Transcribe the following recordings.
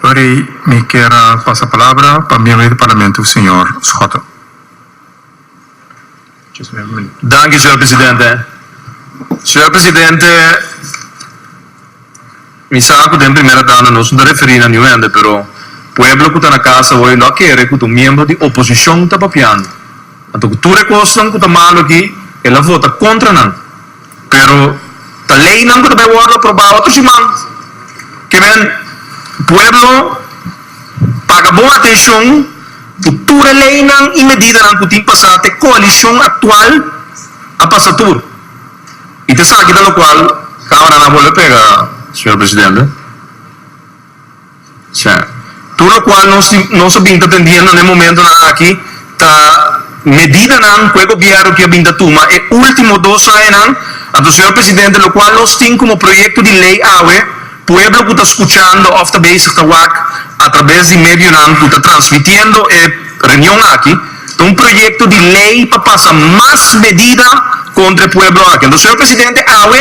Ori mi kier a pasa palabra pa miembro di Parlamento, señor Schotten. Danki, señor presidente. Señor presidente, mi sa cu den primera tanda nos no ta referi na niun hende, pero pueblo cu ta na casa hoy lo a kere cu ta miembro di oposicion ta papiando. Anto cu tur e cosnan cu ta malo aki, el a vota contra nan. Pero ta leynan cu ta bay wordo aprobao ato siman. Kiben, pueblo paga bon atencion cu tur e leynan y medidanan cu tin pasa ta e coalicion actual a pasa tur. Y ta esaki ta locual Camaranan a bolbe pega, señor Presidente. Tur lokual nos a bin ta tendiendo na e momentonan aki ta medidanan ku e gobièrnu kia bin ta tuma e último dos añanan. Anto, señor presidente, lokual nos tin komo proyekto di lei awe, pueblo ku ta skuchando òf ta bezig ta wak atrabes di medionan ku ta transmitiendo e reunion aki, ta un proyekto di lei pa pasa mas medida kontra e pueblo aki. Anto, señor presidente, awe.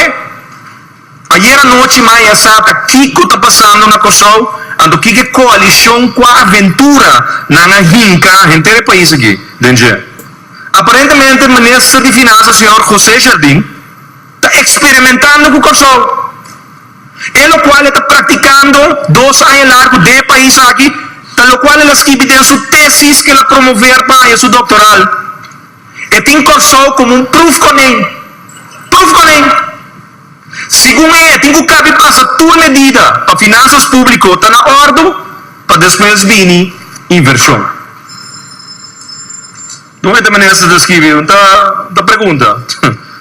Ayera anochi maya a sa ta kico ta pasando na Kòrsou, anto kico e coalicion cua aventura nan a hinca henter e pais aki den dje. Aparentemente Minister di Finansa señor José Jardin ta experimentando cu Kòrsou, e locual e ta practicando dos aña largo den e pais aki, ta locual el a skibi den su tesis cu el a promover pa haya su doctoral. E tin Kòrsou komo un pruf konen. Pruf konen! Segun e, e tin ku kabi pasa tur medida pa finansas públiko ta na òrdu pa despues bini invershon. Don Ete Menester ta skibi, ta ta pregunta,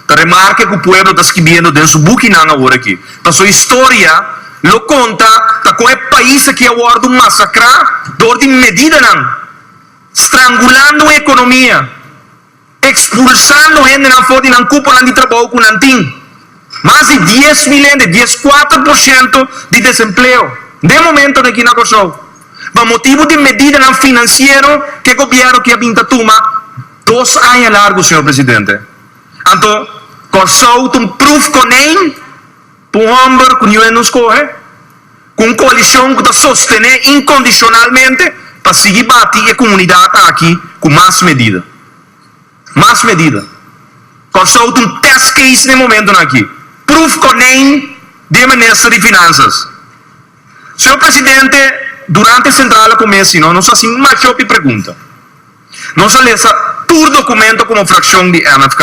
ta remarke ku pueblo ta skibiendo den su bukinan awor aki. Paso historia lo konta ta kon e pais aki a wòrdu masakrá dor di medidanan. Strangulando un economia, expulsando hendenan for di nan cuponan di trabou cu nan tin. Mas di dies mil hende, dies cuater por ciento, di desempleo den momento aki na Corsou, pa motibo di medidanan financiero ke gobierno aki a bin ta tuma dos aña largo, señor presidente. Anto Corsou ta un proef konijn. Pa un homber cu niu e no scoge, cu un coalicion cu ta sostene incondicionalmente pa sigui bati e comunidad aki cu mas medida. Mas medida. Cor-sou ta un test case n'e momentonan aki. Proef konijn den minister di Finanzas. Señor Presidente, durante e centrala comesi no, nos a haci major e pregunta. Nos a lesa tur documento como fraccion di MFK.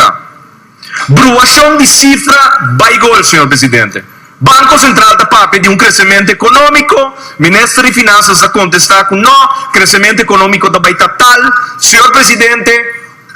Bruacion di cifra bay gol, señor Presidente. Banco Central ta papia di un crecemento economico, Minister di Finanzas a contesta cu no, crecemento economico ta bay ta tal. Señor Presidente,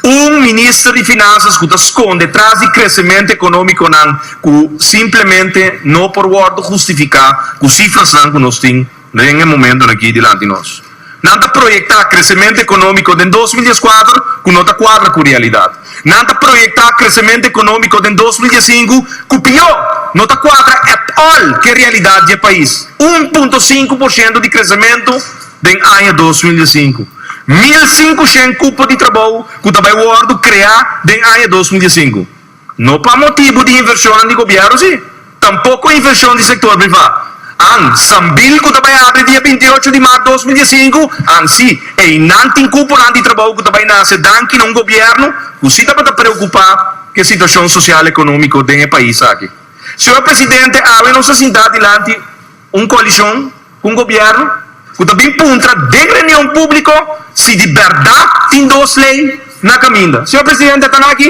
un Minister di Finanzas cu ta sconde tras di crecemento economiconan cu simplemente no por wordo justifica cu cifrasnan cu nos tin, Den e momentonan aki dilanti nos nan ta proyecta crecemento economico den dos mil dies cuater cu no ta cuadra cu realidad. Nan ta proyecta crecemento economico den dos mil dies sinku cu pio no ta cuadra at all ke realidad dje pais. Un punto sinku por ciento di crecemento den aña dos mil dies sinku. Mil sinkushent cupo di trabou cu ta bay wordo crea den aña dos mil dies sinku. No pa motibu di invershonnan di gobièrnu si, tampoko invershon di sektor privá. An Sambil ku ta bai abri dia binti i ocho di mart dos mil dies sinku, an si, einan tin kuponan di trabou ku ta bai nase danki na un gobièrnu ku si tabata preokupá ku e situashon sosial ekonómiko den e pais aki. Señor Presidente, awe nos ta sintá dilanti un koalishon ku un gobièrnu ku ta bin puntra den reunion públiko si di bèrdat tin dos lei na kaminda. Señor Presidente, e ta na aki.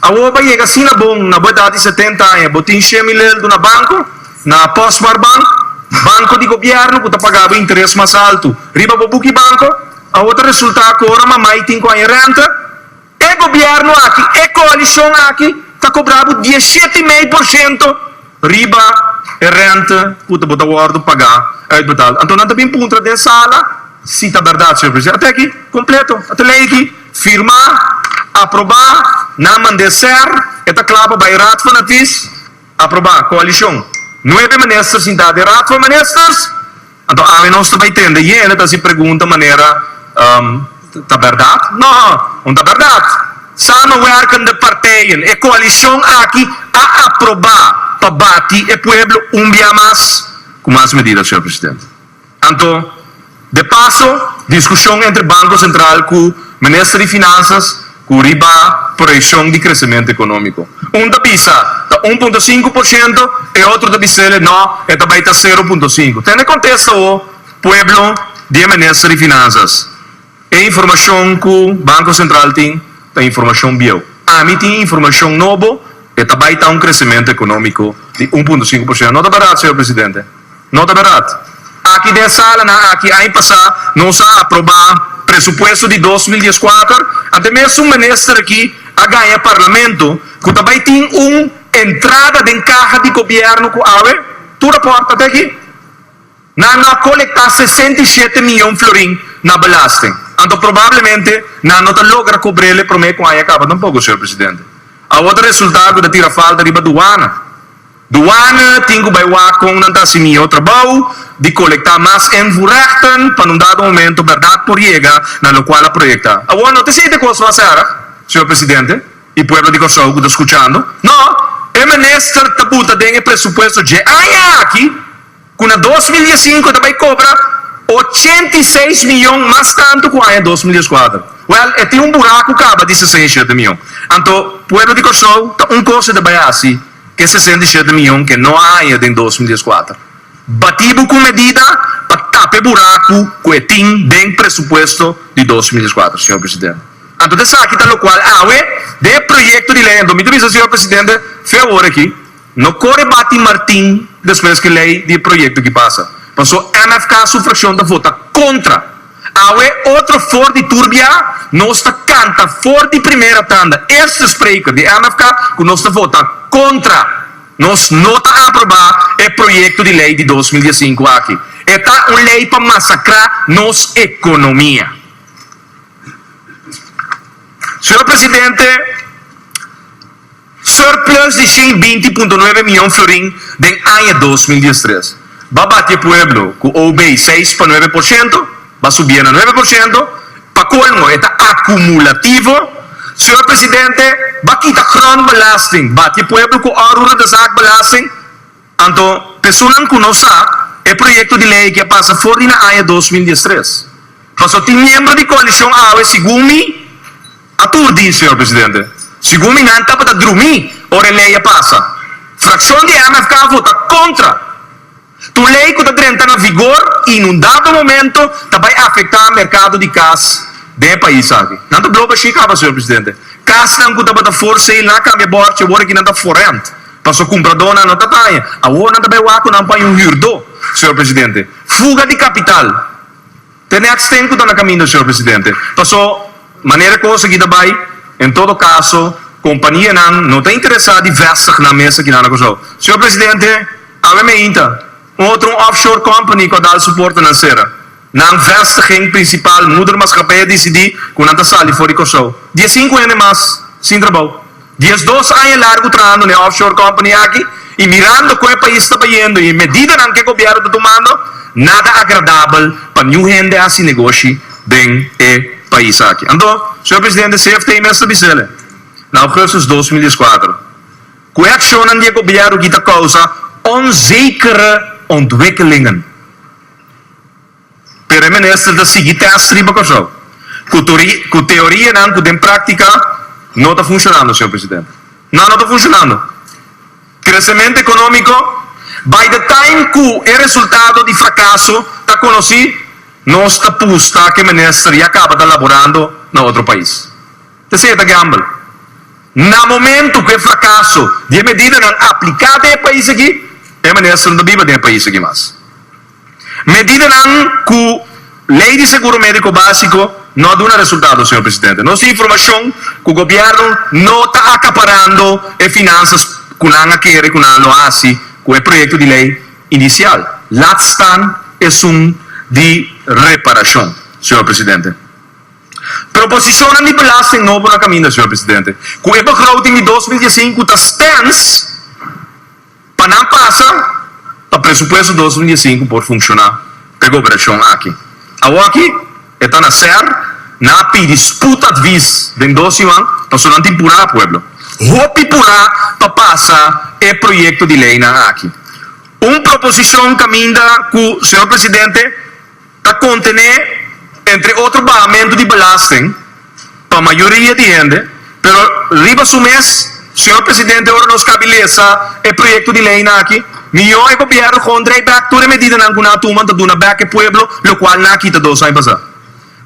Awor pa yega asina bon, na bo edad di setenta aña, bo tin shia milel duna banco, na Postbaarbank, banco di gobierno cu ta paga bo interes mas alto riba bo buki banco. Awor ta resulta cu ora mama y tin cu haña renta, e gobierno aki, e coalicion aki ta cobra bo dieshet y mei por shento. Riba e rente cu ta bo ta wordo paga uitbetaal. Anto nan ta bin puntra den sala si ta berdad, señor Presidente. Ate aki, completo. A ta ley aki, firma, aproba, nan mande ser, e ta cla pa bay Raad van Advies, aproba, coalicion. Nuebe ministers sinta den Raad van Ministers. Anto ami nos ta bai tende yende ta si pregunta manera um ta berdad? No, no ta berdad. Samenwerken den partijen, e coalicion aki a aproba pa bati e pueblo un bia mas cu mas medida, señor presidente. Anto de paso discusion entre Banco Central cu Minister di Finanzas, Cu riba proyeccion di crecemento economico. Un ta bisa ta un punto sinku por ciento, e otro ta bisele no, e ta bay ta sero punto sinku. Tene contesta awo pueblo di e Minister di Finanzas. E informacion cu Banco Central tin ta informacion bieu. Ami tin informacion nobo, e ta bay ta un crecemento economico di un punto sinku por ciento. No ta barat, Señor Presidente. No ta berdad. Aki den salanan aki aña pasá nos a aprobá presupuesto di dos mil dies kuater, anto mes un minister aki a gaña parlamento ku ta bai tin un entrada den kaha di gobièrnu ku awe tur a pòrta te aki nan no a kolektá sesenta i shete miyon florin na belasting. Anto probablemente nan no ta logra kobr'ele promé ku aña kaba tampoko, señor presidente. Awor ta resultá ku ta tira falta riba duana. Douane tin cu bay wak con nan ta haci mihó trabao di colecta mas invoerechten pa en un dado momento berdad por yega na locual a proyecta. Awor no ta esey ta cos lo a cera, Señor Presidente y pueblo di Corsou cu ta scuchando. No, e minister ta buta den e presupuesto dje aña aki. ku na dos mil diesinku ta bai kobra ochenta i seis miyon mas tantu ku aña dos mil dieskuater. Wèl, e tin un buraku kaba di sesenta i shete miyon. Anto, pueblo di Kòrsou ta un kos e ta bai hasi ke sesenta i shete miyon ke no a haña den dos mil dieskuater. Batí bo ku un medida pa tapa e buraku ku e tin den presupuesto di dos mil dieskuater, señor presidente. Anto ta esaki ta lokual awe den e proyekto di lei anto mi ta bisa, señor presidente, fe awor aki, No kore bati Martin despues ku lei di e proyekto ki pasa, paso mfk su frakshon ta vota kontra. Awe otro for di tur biaha nos ta kanta for di primera tanda, eerste spreker di mfk ku nos ta vota kontra. Nos no ta aproba e proyekto di lei di dos mil dies sinku aki. E ta un lei pa masakrá nos ekonomia. Señor Presidente. Surplus di shen binti punto nuebe mion florin den aña dos mil dies tres ba bati e pueblo ku OB seis pa nuebe por shento ba subié na nuebe por shento pa kolmo e ta akumulativo Señor Presidente ba kita grondbelasting bati e pueblo ku oruro de zaak belasting Anto, pesunnan ku no sa, e proyekto di lei aki a pasa for di na aña dos mil dies tres. Paso tin miembro di koalishon awe, segun mi, a turdí, señor presidente. Segun mi nan tabata drumí ora e lei a pasa. Frakshon di MFK a vota kontra tur lei ku ta drenta na vigor i nun dado momento ta bai afektá merkado di kas den e pais aki. Nan ta bloba shi kaba, señor presidente. Kasnan ku tabata for seil nan a kambia bòrchi, awor aki nan ta forrènt. Paso cumpradornan no ta baña. Awor nan ta bay wak cu nan paña un huurdor, señor presidente. Fuga di capital. Te next-thing cu ta na caminda, señor presidente. Paso, manera cos aki ta bay, en todo caso, companianan no ta interesa di vestig nan mes aki na Anacosou. Señor presidente, awe meinta. Un otro offshore company ku a dal suporte nan sera nan vestiging prinsipal. Moedermaatskappij a disidí ku nan ta sali for di Kòrsou dies sinku hende mas sin trabou. Dies dos aña largu trahando na e offshore company aki i mirando ku e pais ta bayendo i e medidanan ku e gobièrnu ta tumando, nada agradabel pa niun hende hasi negoshi den e pais aki. Anto, señor presidente, CFT mester bisa el e na augustus dos mil dieskuater. Ku e akshonnan di e gobièrnu kita kousa onzekere ontwikkelingen. Pero e minister ta sigui tèst riba Kòrsou ku teorianan ku den práktika no ta funshonando, señor presidente. Nan no ta funshonando. Kresementu ekonómiko, bai de taim ku e resultado di frakaso ta konosí, nos ta pusta ku e minister ya kaba ta laborando na otro pais. Tesey ta gamble. Na momentu ku e frakaso di e medidanan apliká den e pais aki, e minister no ta biba den e pais aki mas. Medidanan ku Lei di Seguro Médiko Básiko no a duna resultado, señor presidente. Nos tin informashon ku gobièrnu no ta akaparando e finansas ku nan a kere ku nan lo hasi ku e proyekto di lei inisial, laat staan esun di reparashon, señor presidente. Proposicionnan di belasting nobo na caminda, Señor Presidente, cu e begroting di dos mil diescinco ta stens pa nan pasa pa presupuesto dos mil diescinco por funciona pa e gobernacion aki. Awo aki e ta na ser, nan a pidi spoed advies den dos yuan pasobra nan tin pura pueblo, hopi pura pa pasa e proyecto di leynan aki. Un proposicion caminda cu, Señor Presidente, Ta contené entre otro bajamento di belasting pa mayoria di hende, pero riba su mes, Señor Presidente, ora nos cabi lesa e proyecto di leynan aki, mijo e Gobierno con draai bek tur e medidanan cu nan a tuman ta duna bek e pueblo, locual nan a kita dos ai basá.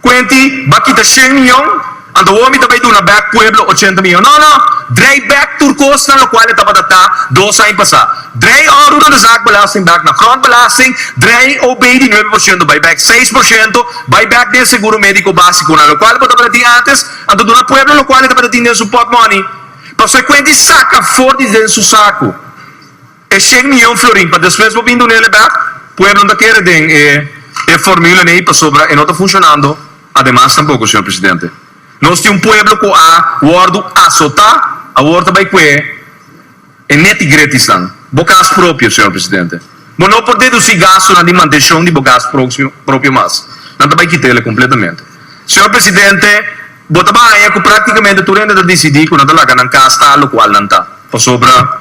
Cuenti, ba kita shen miyon. Anto awor mi ta bay duna bek pueblo ochenta miyon? No, no! Drei bek tur kosnan lokual e tabata ta dos aña pasá. Drei oru nan de zak belasting bek na front belasting, drei OB di nuebe por shento bay bek seis por shento, bay bek den seguro médiko básikonan lokual e por tabata tin ántes. Anto duna pueblo lokual e tabata tin den su pòt mòni. Pasobra e kuenta i saka afó di den su saku. E shen miyon florin pa despues bo bin duna el e bèk? Pueblo no ta kere den e formula nei pasobra e no ta funshonando. Ademas tampoko, señor presidente, nos tin un pueblo ku a wòrdu asotá, awor ta bai kue e netigretisnan. Bo kas propio, señor presidente, bo no por dedusí gastunan di mantenshon di bo kas propio mas. Nan ta bai kita el kompletamente. Señor presidente, bo ta bai haña ku práktikamente tur hende ta disidí ku nan ta laga nan kas ta lokual nan ta, pasobra.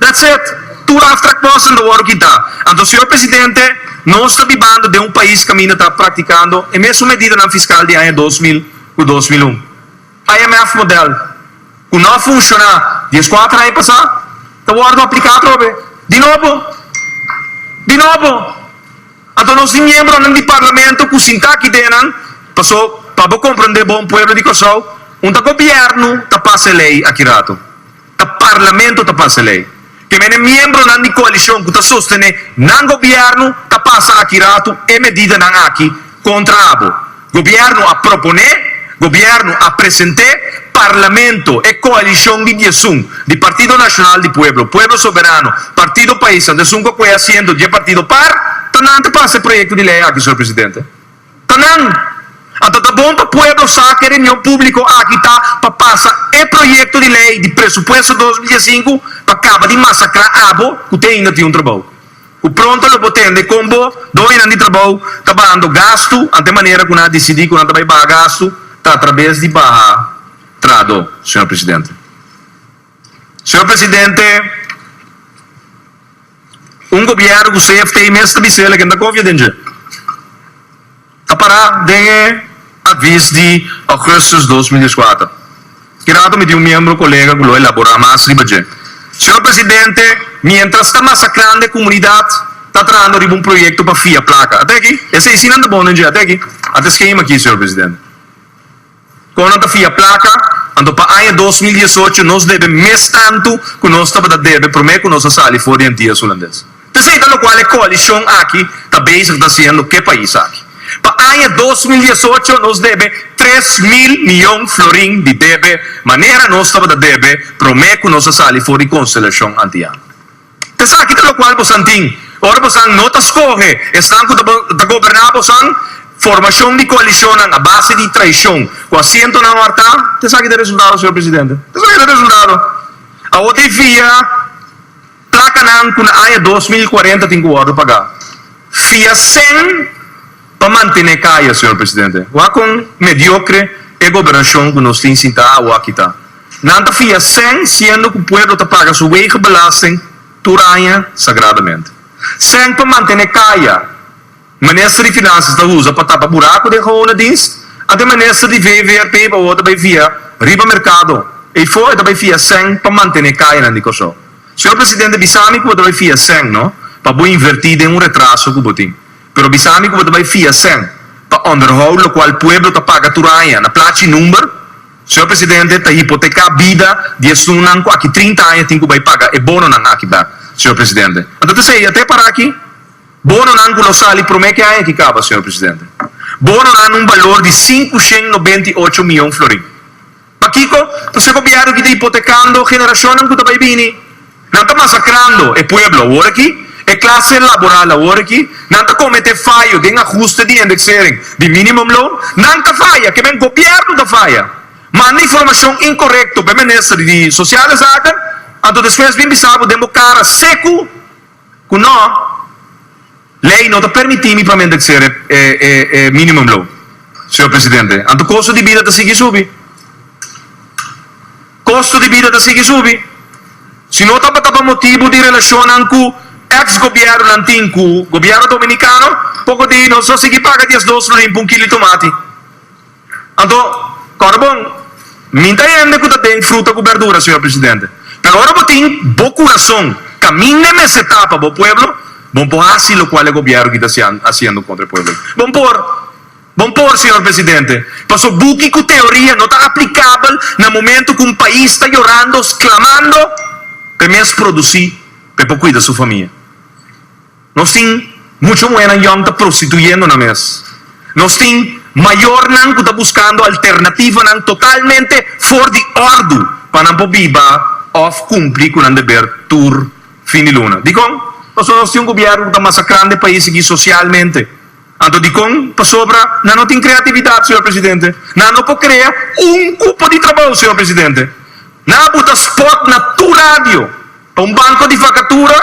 That's it! Tur aftrakkosten ta wòrdu kita. Anto, Señor Presidente, nos ta bibando den un pais kaminda ta praktikando e mesun medidanan fiskal di aña dos mil ku dos mil un. IMF modèl, ku no a funshoná dies kuater aña pasá, ta wòrdu apliká atrobe. Di nobo! Di nobo! Anto, nos tin miembronan di Parlamento ku sintá aki dennan, paso pa bo komprondé bon, pueblo di Kòrsou, un ta gobièrnu ta pasa e lei aki ratu. Ta Parlamento ta pasa lei. Te mene miembronan di coalicion cu ta sostene nan gobierno ta pasa aki rato e medidanan aki contra abo. Gobierno a propone, gobierno a presente, Parlamento, e coalicion di diesun, di Partido Nacional di Pueblo, Pueblo Soberano, Partido Paisa, Desun Cocoe Asiento, dje partido par, ta nan ta pasa e proyecto di lei aki, Señor Presidente. Ta nan. Anto ta bon pa pueblo sa ku e reunion públiko aki ta pa pasa e proyekto di lei di presupuesto dos mil diesinku pa kaba di masakrá abo ku te ainda tin un trabou. Ku pronto lo por tende kon bo doñonan di trabou ta bahando gastu ante manera ku nan a disidí ku nan ta bai baha gastu ta a trabes di baha trado, señor presidente. Señor presidente. Un gobièrnu ku CFT mes ta bisa el a kenda kofia den dje ta pará den e avis di Augustus dos mil dies kuater. Kirato mi tin un miembro kolega ku lo elaborá mas riba dje. Señor Presidente, miéntras ta masakrando e komunidat ta trahando riba un proyekto pa fia plaka. Ata aki, esei sí nan ta bon den dje, ata aki, ata e skema aki, señor Presidente. Kon nan ta fia plaka? Anto pa aña dos mil diesocho nos debe mes tantu ku nos tabata debe promé ku nos a sali for di Antias Hulandes. Ta esei ta lokual e koalishon aki ta bezig ta hasiendo ku e pais aki. Pa aña dos mil diesocho nos debe tres mil miyon florin di debe manera nos tabata debe promé ku nos a sali for di Konselashon Antiano. Esaki ta lokual bosan tin ora bosan no ta skohe esnan ku ta goberná bosan. Formashon di koalishonnan a base di traishon ku asientonan wartá, ta esaki ta resultado, señor presidente. Ta esaki ta resultado. Awor ta e fia plakanan ku na aña dos mil kuarenta tin ku wòrdu pagá. Fia sen. Pa mantene kaya señor presidente wak kon mediocre e gobernacion cu nos tin sinta awo aki ta. Nan ta fia sen siendo cu pueblo ta paga su wege belasting tur aña sagradamente. Sen pa mantene kaya minister di finanzas ta uza pa tapa buraco den gehona dienst a den minister di VVRP bawor ta bay fia riba mercado ey for e ta bay fia sen pa mantene kayanan di Corsou. Señor presidente bisami cu bo ta bay fia sen no pa bo inverti den un retraso cu bo tin. Pero bisa mi ku bo ta bai fia cen pa onderhou lokual pueblo ta paga tur aña na plachi number? Señor Presidente, ta hipoteka bida di esunnan ku aki trinta aña tin ku bai paga e bononan aki ta, señor Presidente. Anto ta seya te para aki? Bononan ku lo sali promé ke aña ki kaba, señor Presidente. Bononan na un balor di sinku shen nobenta i ocho mion florin. Pakico? Pas'e Gobierno ki ta hipotecando generacionnan cu ta bay bini. Nan ta masacrando e pueblo awor aki, e clase laboral awor aki. Nan ta comete fayo den ajuste di indexering di minimum loan. Nan ta faya, ke men Gobierno ta faya. Manda informacion incorrecto p'e Minister di Sociale Zaken, anto despues bin bisa bo den bo cara secu. Ku no, lei no ta permití mi pa mi endeksé e minimumloon, señor presidente. Anto kosto di bida ta sigui subi. Kosto di bida ta sigui subi. Si no tabata pa motibu di relashonnan ku eks gobièrnunan tin ku gobièrnu dominikano, poko di nos lo sigui paga diesdos florin pa un kilo di tomati. Anto, kòrda bon, mi ta hende ku ta den fruta ku bèrdura, señor presidente. Pero ora bo tin bo kurason kaminda e mes etapa bo pueblo, bon por hasi lokual e gobièrnu ki ta hasiendo kontra e pueblo. Bon por, bon por, señor presidente, pasobra buki ku teoria no ta aplikabel na momento ku un pais ta yorando, sklamando pa e mes produsí pa e por kuida su famia. Nos tin mucho muhernan yòm ta prostituyendo nan mes. Nos tin mayornan ku ta buskando alternativanan totalmente for di òrdu pa nan por biba òf kumpli ku nan deber tur fin di luna. Dikon? Pasobra nos tin un gobièrnu ku ta masakrando e pais aki sosialmente. Anto dikon pasobra nan no tin kreatividat, señor presidente? Nan no por krea un kupo di trabou, señor presidente? Nan a buta spot na tur radio pa un banko di vakatura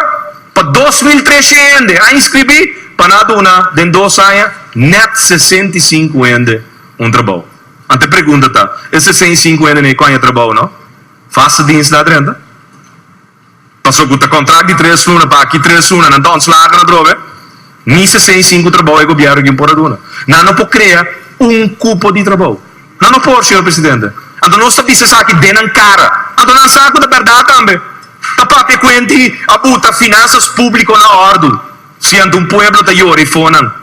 pa dos mil treshe hende a inskribí pa nan a duna den dos aña nèt sesenta i sinku hende un trabou. Anto e pregunta ta, e sesenta i sinku hende no e koña trabou no? Vasta dienst na a drenta? Paso cu ta contract di tres luna pa aki tres luna nan ta ontslagen atrobe, ni sesenta i sinku trabou e gobierno gin por a duna. Nan no por crea un cupo di trabou. Nan no por, señor presidente. Anto nos ta bisa esaki den nan cara. Anto nan sa cu ta berdad tambe. Ta papia e cuenti a buta finanzas publico na ordu si anto un pueblo ta yora y fonan.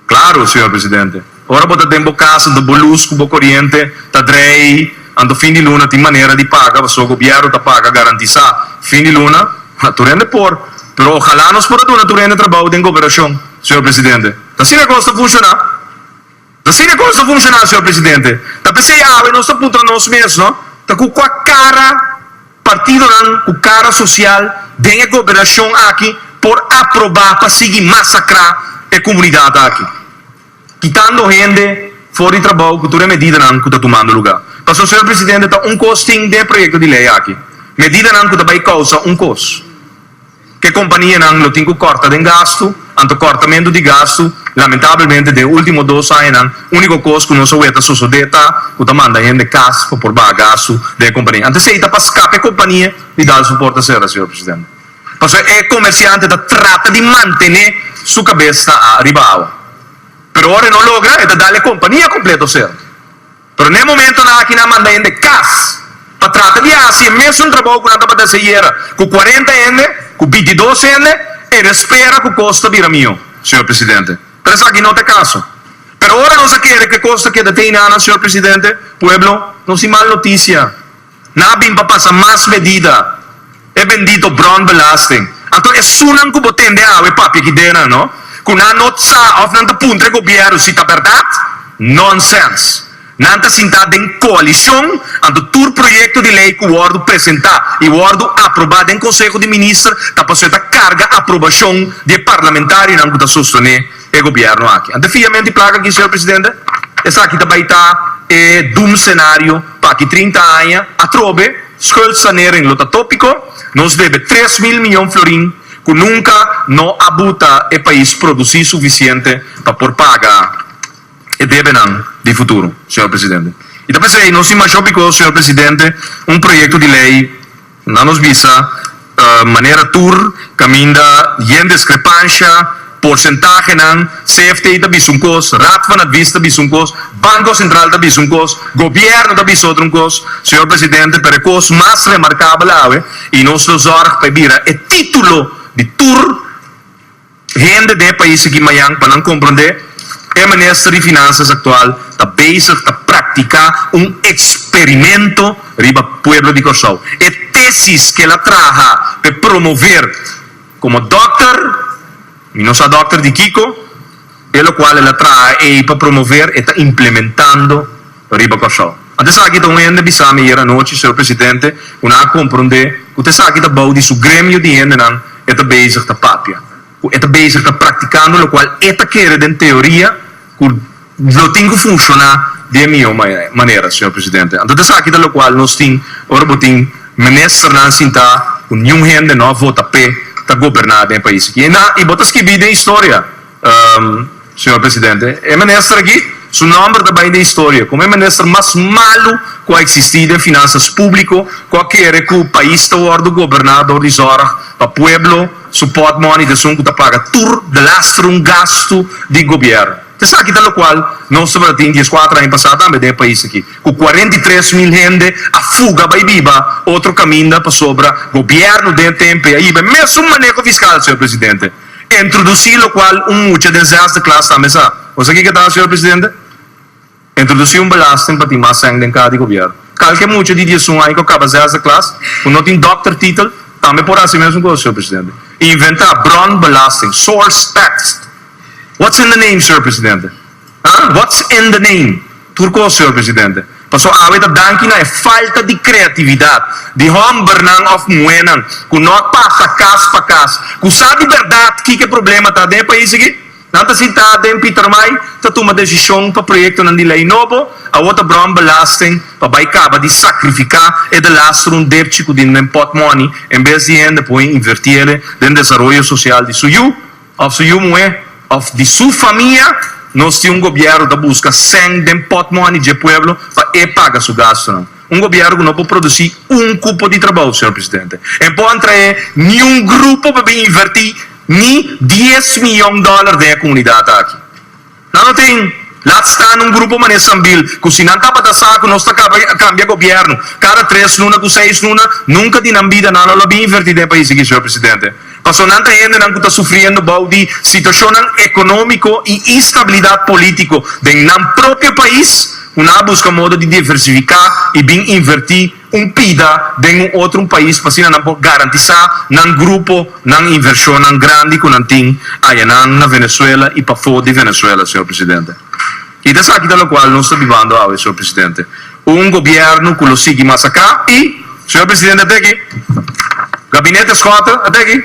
Claro, Señor Presidente. Ora bo ta den bo casa anto bo luz cu bo coriente ta drei anto fin di luna tin manera di paga pasobra gobierno ta paga garantisa fin di luna ha tur hende por pero ojala nos por a duna tur hende trabao den goberashon Señor Presidente. Ta asina e cos ta funciona. Ta asina e cos ta funciona Señor Presidente. Ta p'esei awe nos ta puntra nos mes no ta cu cua cara. Partidonan cu cara social den e gobernacion aki por aproba pa sigui masacra e comunidad aki, kitando hende for di trabou cu tur e medidanan cu ta tumando lugar. Pasobra, señor presidente, ta un cos tin den e proyecto di ley aki, medidanan cu ta bay causa un cos. Ke kompanianan lo tin ku kòrta den gastu? Anto kòrtamentu di gastu? Lamentablemente den e último dos añanan úniko kos ku nos a wet a sosodé ta ku ta manda hende kas pa por baha gastu den e kompania. Anto esei ta pa skap e kompania di dal su porta sera, señor Presidente. Pasobra e komersiante ta trata di mantené su kabes ta ariba awa. Pero ora e no logra e ta dal e kompania kompleto sera. Pero n'e momentonan aki nan manda hende cas pa trata di haci e mesun trabou cu nan tabata haci ayera cu cuarenta hende, cu bintidos hende e nan spera cu cos ta bira miho, Señor Presidente. Pero esaki no ta e caso. Pero ora nos a kere cu e cos ta keda te hinana, Señor Presidente, pueblo nos tin mal noticia. Nan a bin pa pasa mas medida, e bendito bròn belasting. Anto esunnan ku bo tende awe papia aki dena, no? Ku nan no sa òf nan ta puntra e gobièrnu si ta bèrdat? Nònsens! Nan ta sintá den koalishon, anto tur proyekto di lei ku wòrdu presentá i wòrdu aprobá den konseho di minister ta pasó e ta karga aprobashon di e parlamentarionan ku ta sostené e gobierno aki. Ante fiamen di plak aki, señor presidente, esaki ta bay ta e doemscenario pa aki trinta aña atrobe, schuldsanering lo ta topico, nos debe tres mil miyon florin cu nunca no a buta e pais produci suficiente pa por paga e debenan di futuro, señor presidente. Y ta p'esey nos tin masho bico, señor presidente, un proyecto di ley, Na nos bisa manera tur kaminda yen diskrepansha, porsentahenan, CFT ta bisa un kos, Raad van Advies ta bisa un kos, Banko Sentral ta bisa un kos, gobièrnu ta bisa otro un kos. Señor Presidente, pero e kos mas remarkabel awe, i nos lo zòrg pa e bira e título di tur. Hende den e pais aki mañan pa nan komprondé e minister di Finansias aktual ta bezig ta praktiká un eksperimento riba pueblo di Kòrsou. E tesis k'el a traha pa e promover komo dòkter, mi no sa dòkter di kiko, Te locual el a traha ey pa promover e ta implementando riba Corsou. Ante esaki ta un hende bisami ayer anochi, Señor Presidente, cu nan a compronde cu ta esaki ta bao di su gremio di hendenan e ta bezig ta papia, cu e ta bezig ta practicando locual e ta kere den teoria cu lo tin cu funciona di e miyo manera, Señor Presidente. Ante ta esaki ta locual nos tin ora bo tin Ministernan sinta cu niun hende no a vota p'e ta goberna den e pais aki. Y na, y bo ta skibi den historia. Señor Presidente, e minister aki su nomber ta bai den historia como e minister mas malo cu a existi den finanzas publico cu a kere cu pais ta wordo goberna door di zorg pa pueblo, su portmoney ta esun cu ta paga tur belastrum gastu di gobierno. Ta esaki ta locual nos tabatin dies cuatro aña pasa tambe den e pais aki cu cuarenta y tres mil hende a fuga bai biba otro caminda pasobra gobierno den tempo e a yiba e mesun maneho fiscal, Señor Presidente. Introduci locual un mucha den zesde klas ta mesa. Bo sa kiko ta, señor presidente? Introduci un belasting pa tin mas sèn den kada gobièrnu. Kalke mucha di diesun aña ku kaba zesde klas, ku no tin dòkter titel, tambe por hasi e mesun kos, señor presidente. Inventá bron belasting, source tax. What's in the name, señor presidente? Huh? What's in the name? Tur cos, señor presidente. Paso awe ta danki na e falta di creatividad di hombernan of muhenan cu no a pasa cas pa cas, cu sa di berdad kico e problema ta den e pais aki. Nan ta sinta den Pietermaai ta tuma decision pa proyectonan di ley nobo, awor ta brong belasting pa bay caba di sacrifica e de lastrun depchi cu tin den pot money en bes di hende poe inverti ele den desaroyo social di su yu. òf su yu muhé òf di su famia, nos tin un gobièrnu ku ta buska sèn den pòtmòni dje pueblo pa e paga su gastunan. Un gobièrnu ku no por produsí un kupo di trabou, señor presidente. E por an traé niun grupo pa bin invertí ni dies miyon dòler den e komunidat aki. Nan lo tin laat staan un grupo mané Sambil cu si nan tabata sa cu nos ta caba cambia gobierno cada tres luna cu seis luna nunca di nan bida nan lo la bin inverti den pais aki señor presidente pasobra nan ta hendenan cu ta sufriendo bao di situacionnan economico y instabilidad politico den nan propio pais cu nan a busca modo di diversifica y bin inverti un pida den un otro un pais pa asina nan por garantisa nan grupo nan invershonnan grandi cu nan tin ayanan na Venezuela y pafo di Venezuela, señor presidente. Y ta esaki ta locual nos ta bibando awe, señor presidente. Un gobierno cu lo sigui mas aca y, señor presidente, ate aki. Gabinete Schotten, ate aki.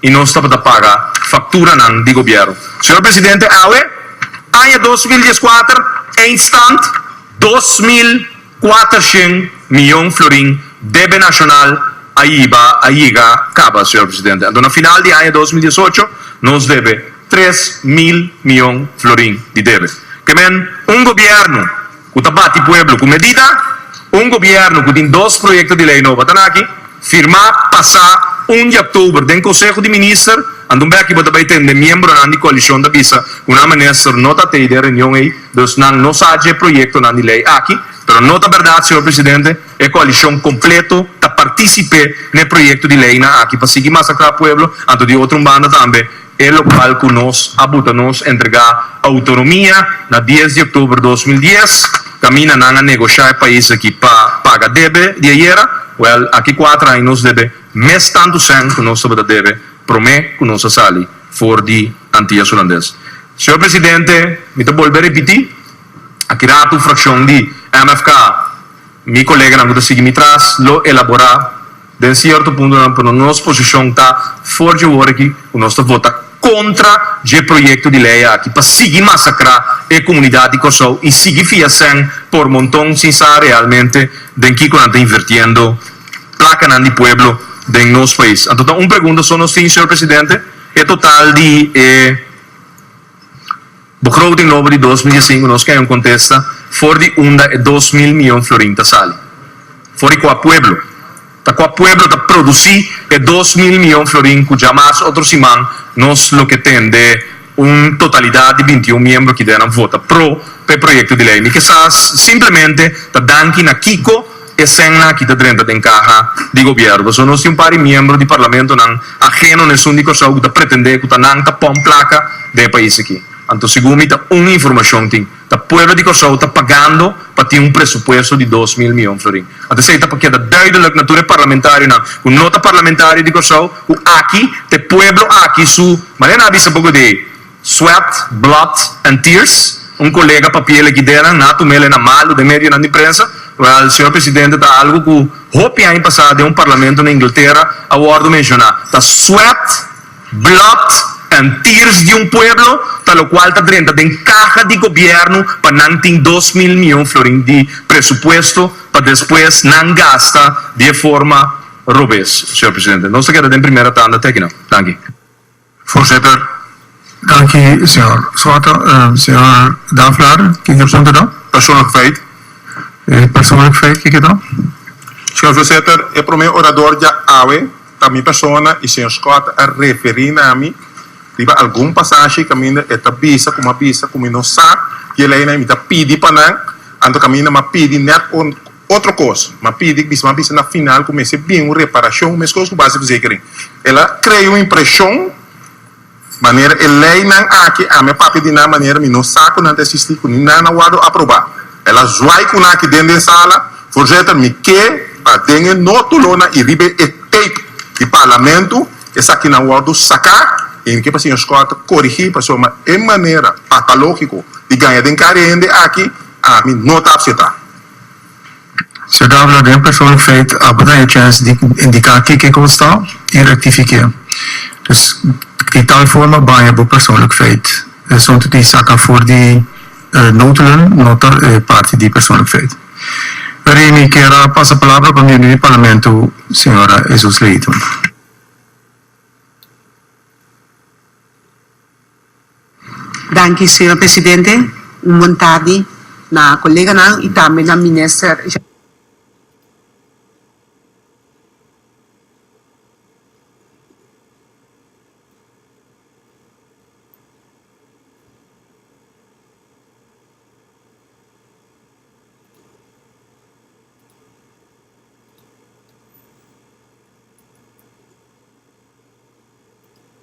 y nos tabata paga facturanan di Gobierno. Señor Presidente, awe, aña dos mil dieskuater, eindstand dos mil kuatershent miyon florin debe nacional a yiba, a yiga caba, Señor Presidente. Anto na final di aña dos mil diesocho nos debe tres mil miyon florin di debe. Kemen un Gobierno. ku ta bati pueblo ku medida un gobièrnu ku tin dos proyekto di lei nobo ta na aki firmá pasá un di oktober den konseho di minister anto bèki bo ta bai tende miembronan di koalishon ta bisa ku nan minister no ta tei den reunion ei dus nan no sa dje proyektonan di lei aki pero no ta bèrdat señor presidente e koalishon kompleto ta partisip'é n'e proyekto di leinan aki pa sigui masakra pueblo anto di otro un banda tambe e lo cual cu nos a buta nos entrega autonomia na dies di october dos mil dies, caminda nan a negosha e pais aki pa paga debe di ayera, wel aki cuater aña nos debe mes tanto cent cu nos tabata debe prome cu nos a sali for di Antillas Hulandes. Señor Presidente, mi ta bolbe repiti, aki rato fraccion di MFK, mi coleganan cu ta sigui mi tras, lo elabora Den sierto puntonan pero nos posishon ta for dje wor aki ku nos ta vota kontra dje proyekto di lei aki pa sigui masakrá e komunidat di Kòrsou i sigui fia sèn por monton sin sa realmente den kiko nan ta invertiendo plakanan di pueblo den nos pais. Anto ta un pregunta so nos tin, señor Presidente, e total di e. Bo krou tin lobo di dos mil i sinku nos kende un kontesta for di unda e dos mil miyon florin ta sali? For di kua pueblo? Ta kua pueblo ta produsi e dos mil miyon florin ku dja mas otro siman nos lo ke tende un totalidat di binti un miembro kidera nan vota pro pa e proyekto di lei? Mi ke sa simplemente ta danki na kiko E senna aki ta drenta den kaha di gobièrnu. So nos tin un par di miembro di parlamentonan ageno na esun di Kòrsou ku ta pretendé ku ta nan ta pon plaka den e pais aki. Anto segun mi ta un informashon tin ta pueblo di Kòrsou ta pagando pa tin un presupuesto di dos mil miyon florin. Anto esei ta pa keda duidelik na tur e parlamentarionan ku no ta parlamentario di Kòrsou ku aki ta e pueblo aki su manera nan a bisa poco di ei. Sweat, Blood and Tears, un colega papia el e Gidena, na tuma el e na malo den medionan di prensa. Well, Señor Presidente, ta algo cu hopi aña pasa den un parlamento na Inglaterra a wordo menciona. Ta sweat, blood and tears di un pueblo ta locual ta drenta den caha di gobierno pa nan tin dos mil miyon florin di presupuesto pa despues nan gasta di e forma robes, Señor Presidente. Nos ta keda den primera tanda te akinan. Danki. Voorzitter, danki señor Swata. Señor Daflar, kiko e punto ta? Persoonlijkheid. E persoonlijkheid kiko ta? Señor Voorzitter, e prome orador dja awe ta mi persona y señor Scott a referi na mi riba algun pasashi caminda e ta bisa cu m'a bisa cu mi no sa dje leynan y mi ta pidi pa nan, anto caminda m'a pidi net con. Otro kos, m'a pidi ku bisnan bisa na final ku mester bin un reparashon, meskos ku baseverzekering. El a krea un impreshon manera e leinan aki ami a papia di nan manera mi no sa ku nan ta esistí, ku ni nan a wòrdu aprobá. El a zwaai ku nan aki den den sala, Voorzitter, mi ke pa den e notolonan i riba e tape di Parlamento esakinan wòrdu saká i mi ke pa señor Scott korigí pasobra e manera patalógiko di gaña den kari hende aki ami no ta apsetá. Ciudad laga en persoon feit abo ta e chance di indica kiko bo sta y rectifique. Dus di tal forma baña bo persoonlijk feit. Asunto di saca for di noodhullen no ta e parti di persoonlijk feit. Peri mi kier a pasa palabra pa miembro di Parlamento Sra. Jesus Leyton. Danki señor presidente, un bon tardi na coleganan y tambe na minister.